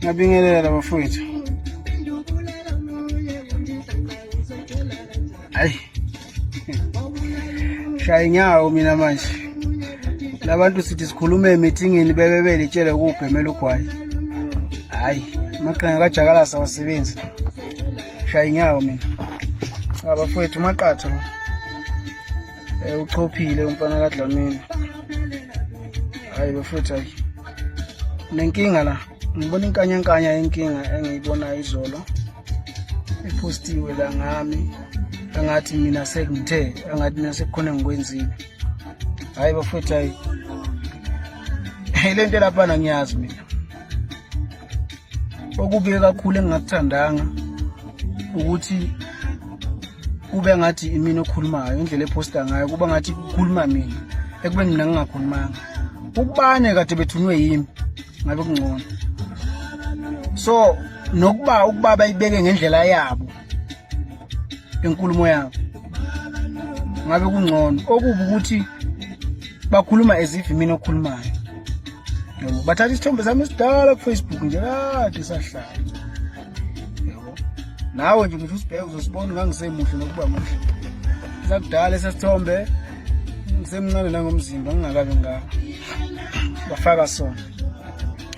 ngabingelela bafowethu hayi shaya inyawo mina manje labantu sithi sikhulume emithingini bebe belitshele ukubhemela ugwayi hayi amaqhinga kajakalasa awasebenzi shaya inyawo mina abafowethu maqatha Eh uchophile umfana kaDlamini. Hayi bafethu hayi. Nenkinga la. Ngibona inkanyankanya yenkinga engiyibonayo izolo. Epostiwe la ngami. Angathi mina sekungithe, angathi mina sekukhona ngikwenzile. Hayi bafethu hayi. Hey lento lapha ngiyazi mina. okubuye kakhulu engingakuthandanga ukuthi kube ngathi imina okhulumayo indlela ephosta ngayo kuba ngathi kukhuluma mina ekube mina ngingakhulumanga ukubane kade bethunwe yimi ngabe kungcono so nokuba ukuba bayibeke ngendlela yabo enkulumo yabo ngabe kungcono okubi ukuthi bakhuluma as if mina okhulumayo yebo bathatha isithombe sami esidala kufacebook nje kade sahlala yebo nawe nje ngisho usibheke uzosibona ngangisemuhle nokuba muhle sakudala esesithombe ngisemncane nangomzimba ngingakabi ngaka bafaka sona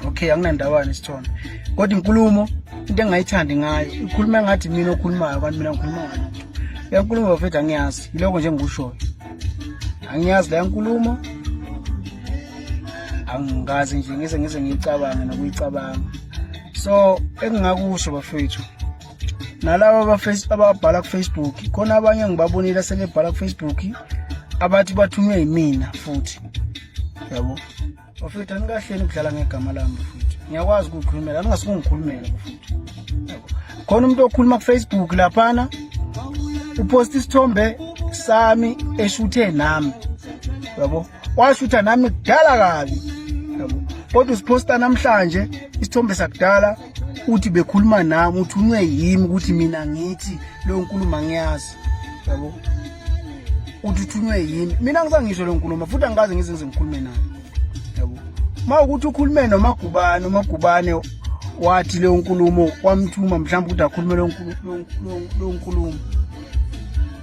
okay anginandawana isithombe kodwa inkulumo into engayithandi ngayo ikhuluma ngathi mina okhulumayo kanti mina ngikhuluma ngalo le nkulumo bafethu angiyazi yiloko nje ngikushoyo angiyazi le nkulumo angikazi nje ngise ngise ngiyicabange nokuyicabanga so engingakusho bafethu nalabo ababhala kufacebook khona abanye ngibabonile asebebhala kufacebook abathi bathunywe yimina futhi yabo bafethu anikahleni ukudlala ngegama lami bafethu ngiyakwazi ukukhulumela aningasikungikhulumela bafethu khona umuntu okhuluma kufacebook laphana uposta isithombe sami eshuthe nami yabo washutha nami kudala kabi yabo kodwa usiposta namhlanje isithombe sakudala uthi bekhuluma nami uthi unce yimi ukuthi mina ngithi leyo nkulumo angiyazi yabo uthi uthunywe yimi mina ngisangisho leyo nkulumo futhi angikaze ngize ngize ngikhulume naye yabo uma ukuthi ukhulume nomagubane umagubane wathi leyo nkulumo wamthuma mhlawumbe ukuthi akhulume leyo nkulumo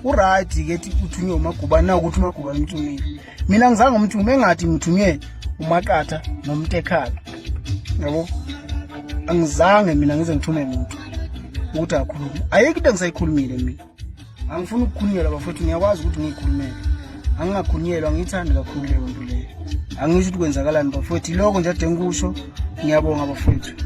uright ke thi uthunywe umagubane na ukuthi umagubane umthumile mina ngizange umthume engathi ngithunywe umaqatha nomtekhala yabo angizange mina ngize ngithume muntu ukuthi akhulume ayikho into engisayikhulumile mina angifuni ukukhunyelwa bafowethu ngiyakwazi ukuthi ngiyikhulumele angingakhunyelwa angiyithandi kakhulu leyo nto leyo angisho ukuthi kwenzakalani bafowethu iloko nje ade ngikusho ngiyabonga bafowethu